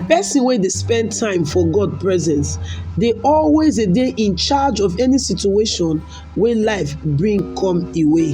Person wey dey spend time for God presence dey always dey dey in charge of any situation wey life bring come e way.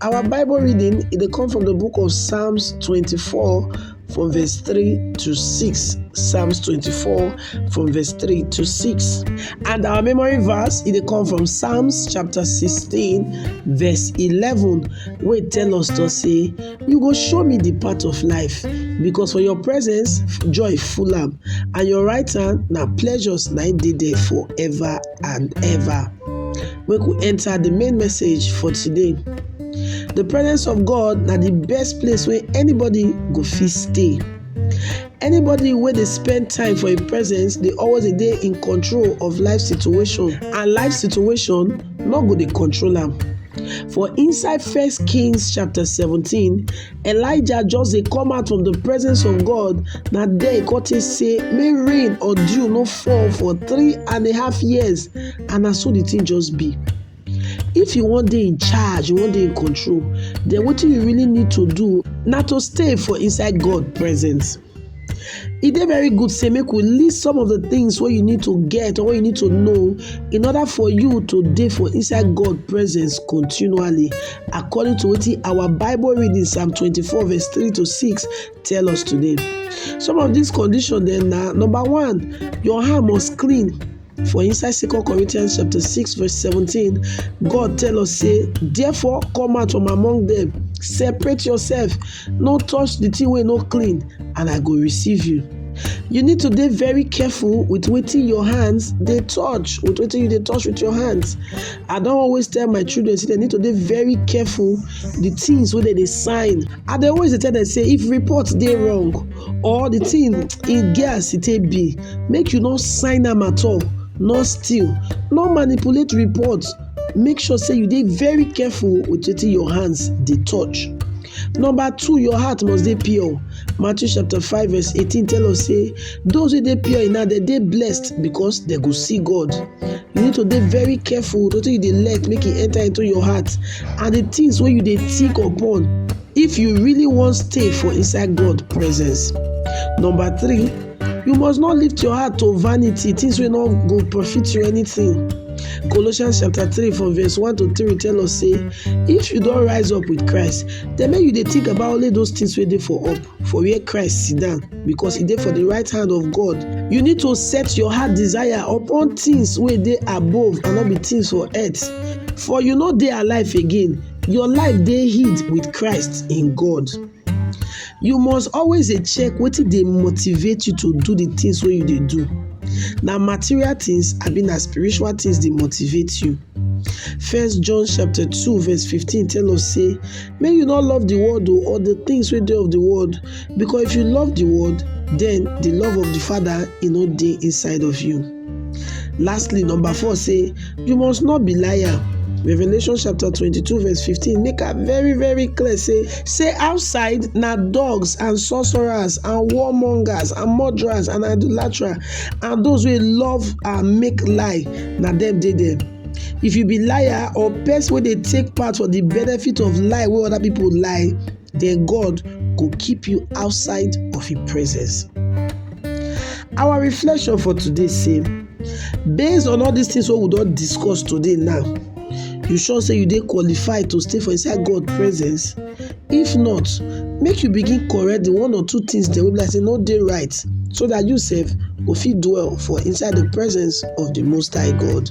Our Bible reading it dey come from the book of Psalms 24 from verse 3 to 6. Psalms 24 from verse 3 to 6. And our memory verse it dey come from Psalms chapter 16 verse 11 wey tell us to say, You go show me the path of life because for your presence joy full am and your right hand na pleasures na im dey there forever and ever. make we enter the main message for today. The presence of God na the best place where anybody go fit stay. Anybody where they spend time for a presence, they always a day in control of life situation and life situation not go dey control am. For inside First Kings chapter 17, Elijah just dey come out from the presence of God, na there he come take say make rain or dew no fall for three and a half years and na so the thing just be. If you wan dey in charge, you wan dey in control, then wetin you really need to do na to stay for inside God presence. e dey very good say make we list some of the things wey you need to get or wey you need to know in order for you to dey for inside God presence continually according to wetin our Bible reading Psalm 24 verse 3 to 6 tell us today. Some of these conditions dem na number one, your hand must clean For inside 2 Corinthians chapter 6 verse 17, God tell us say, "Therefore come out from among them, separate yourself, no touch the thing wey no clean, and I go receive you." You need to dey very careful with wetin your hands dey touch, with wetin you dey touch with your hands. I don always tell my children say they need to dey very careful the things wey dem dey sign. I dey always dey tell them say if report dey wrong, or the thing e get as e take be make you no sign am at all no steal no manipulate report make sure say you dey very careful with wetin your hands dey touch number two your heart must dey pure matthew chapter five verse eighteen tell us say those wey dey pure in heart dem dey blessed because dem go see god you need to dey very careful with wetin you dey let make e enter into your heart and the things wey you dey think upon If you really wan stay for inside God presence. Number three, you must not lift your heart to vanity, things wey no go profit you anything. Colossians chapter three from verse one to three tell us say, if you don rise up with Christ, then make you dey think about only those things wey dey for up, for where Christ sit down, because e dey for the right hand of God. You need to set your heart desire upon things wey dey above and no be things for earth. For you no dey alive again, Your life dey hid with Christ in God. You must always dey check wetin dey motivate you to do the things wey you dey do. Na material things abi na spiritual things dey motivate you? First John chapter 2 verse 15 tell us say make you no love the world o or the things wey dey of the world because if you love the world then the love of the father e no dey inside of you. Lastly, number four say, You must not be liar. Revelation chapter 22, verse 15, make am very, very clear. Say, say outside na dogs and sorcerers and warmongers and murderers and idolaters and those who love and make lie, na them dey there. If you be liar or person wey dey take part for the benefit of lie wey other people lie, their God go keep you outside of His presence. Our reflection for today say, based on all these things what we don't discuss today now, you sure say you dey qualified to stay for inside God presence? If not, make you begin correct the one or two things that will be like say no day right so that you sef go fit dwell for inside the presence of the Most High God.